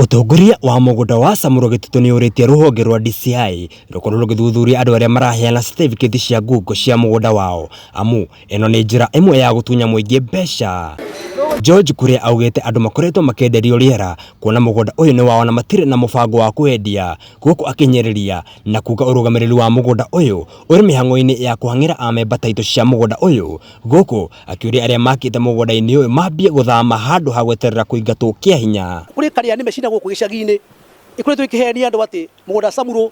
Ũtongoria wa mũgũnda wa Samuro Gĩtitũ nĩ ũrĩtie rũhonge rwa DCI rũkorwo rũgĩthuthuria andũ arĩa maraheana certificate cia ngungo cia mũgũnda wao amu ĩno nĩ njĩra ĩmwe ya gũtunya mũingĩ mbeca. George Kuria augĩte andũ makoretwo makĩenderio rĩera kuona mũgũnda ũyũ nĩ wao na matirĩ na mũbango wa kũwendia gũkũ akĩnyĩrĩria na kuga ũrũgamĩrĩri wa mũgũnda ũyũ ũrĩ mĩhang'o-inĩ ya kũhang'ĩra amemba taitũ cia mũgũnda ũyũ gũkũ akĩũria arĩa makĩte mũgũnda-inĩ ũyũ mambie gũthama handũ ha gweterera kũingatwo kĩa hinya. Kũrĩ karĩa nĩ mecina gũkũ gĩcagi-inĩ ikoretwo ikĩhenia andũ atĩ mũgũnda acamurwo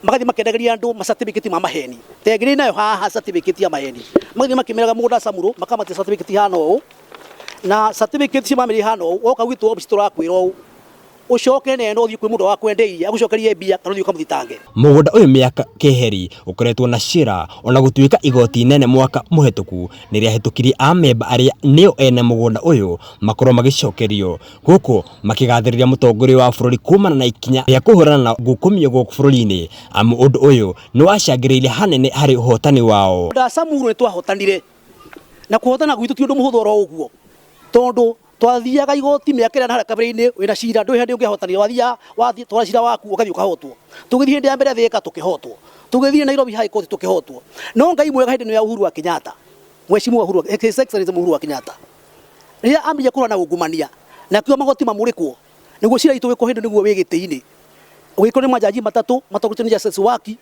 magathiĩ makendagĩria andũ ma certificate ma maheni ta ĩrĩa ndĩ nayo haha certificate ya maheni magathiĩ makĩmeraga mũgũnda acamurwo makamatia certificate ihana ũũ na certificate cia mamĩrĩ ihana ũũ woka gwitũ obici tũrakwĩra ũũ ucoke neno uthii kwi mundu wakwendeirie agucokerie mbia kana uthii ukamuthitange Mũgũnda ũyũ mĩaka keheri ũkoretwo na cira ona gũtuĩka igoti inene mwaka mũhetũku nĩrĩahĩtũkirie amemba arĩa nĩo ene mũgũnda ũyũ makorwo magĩcokerio gũkũ makĩgathĩrĩria mũtongoria wa bũrũri kumana na ikinya rĩa kũhũrana na ngukumio gũkũ bũrũri-inĩ amu ũndũ ũyũ nĩwacangĩrĩire hanene harĩ ũhotani wao. Andũ a Samburu nĩ twahotanire, na kũhotana gwitũ ti ũndũ mũhũthũ oro ũguo, tondũ twathiaga igoti mĩaka ĩrĩa harĩa kabere-inĩ wĩna cira ndũĩ hĩndĩ ũngĩhotanire wathiaga wathiĩ twara cira waku ũgathiĩ ũkahotwo tũgĩthiĩ hĩndĩ ya mbere thĩka tũkĩhotwo tũgĩthiĩ Nairobi High Court tũkĩhotwo no Ngai mwega hĩndĩ ĩno ya Uhuru wa Kenyatta Mheshimiwa Uhuru wa- His Excellency Uhuru wa Kenyatta rĩrĩa ambĩrĩria kũhũrana ungumania nakĩo magoti mamũrĩkwo nĩguo cira itũ wĩkwo hĩndĩ nĩguo wĩ gĩtĩ-inĩ ũgĩkwo nĩ majaji matatũ matongorĩtio nĩ Justice Waki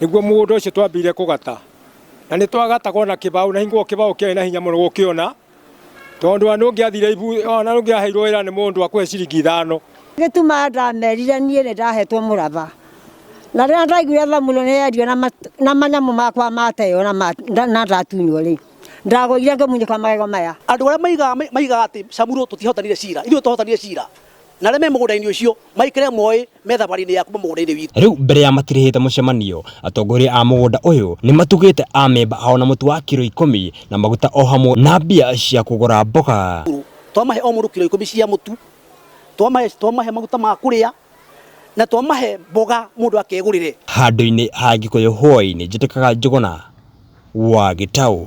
Nĩguo mũgũnda ũcio twambire kũgata na nĩ twagataga ona kĩbaũ na hingo kĩbaũ kĩarĩ na hinya mũno gũkĩona tondũ ona ũngĩathire ibu ona ũngĩaheirwo wĩra nĩ mũndũ akũhe ciringi ithano. Gĩtuma ndamerire niĩ nĩ ndahetwo mũraba na rĩrĩa ndaiguire thamuro nĩ yendio na manyamũ makwa mateo na ndatunywo rĩ ndagũire ngĩmunyũka magego maya. Andũ arĩa maigaga atĩ Samuro tũtiahotanire cira, ithuĩ twahotanire cira na arĩa me mũgũnda-inĩ ũcio maikĩre moĩ me thabarĩ-inĩ ya kuma mũgũnda-inĩ witũ. Rĩu mbere ya matirĩhĩte mũcemanio, atongoria a mũgũnda ũyũ nĩ matugĩte amemba ao na mũtu wa kiro ikũmi na maguta o hamwe na mbia cia kũgũra mboga. Twamahe o mũndũ kiro ikũmi cia mũtu, twamahe twamahe maguta ma kũrĩa na twamahe mboga mũndũ akegũrĩre. Handũ-inĩ ha Gĩkũyũ Hũa-inĩ Njĩtĩkaga Njũgũna wa Gĩtaũ.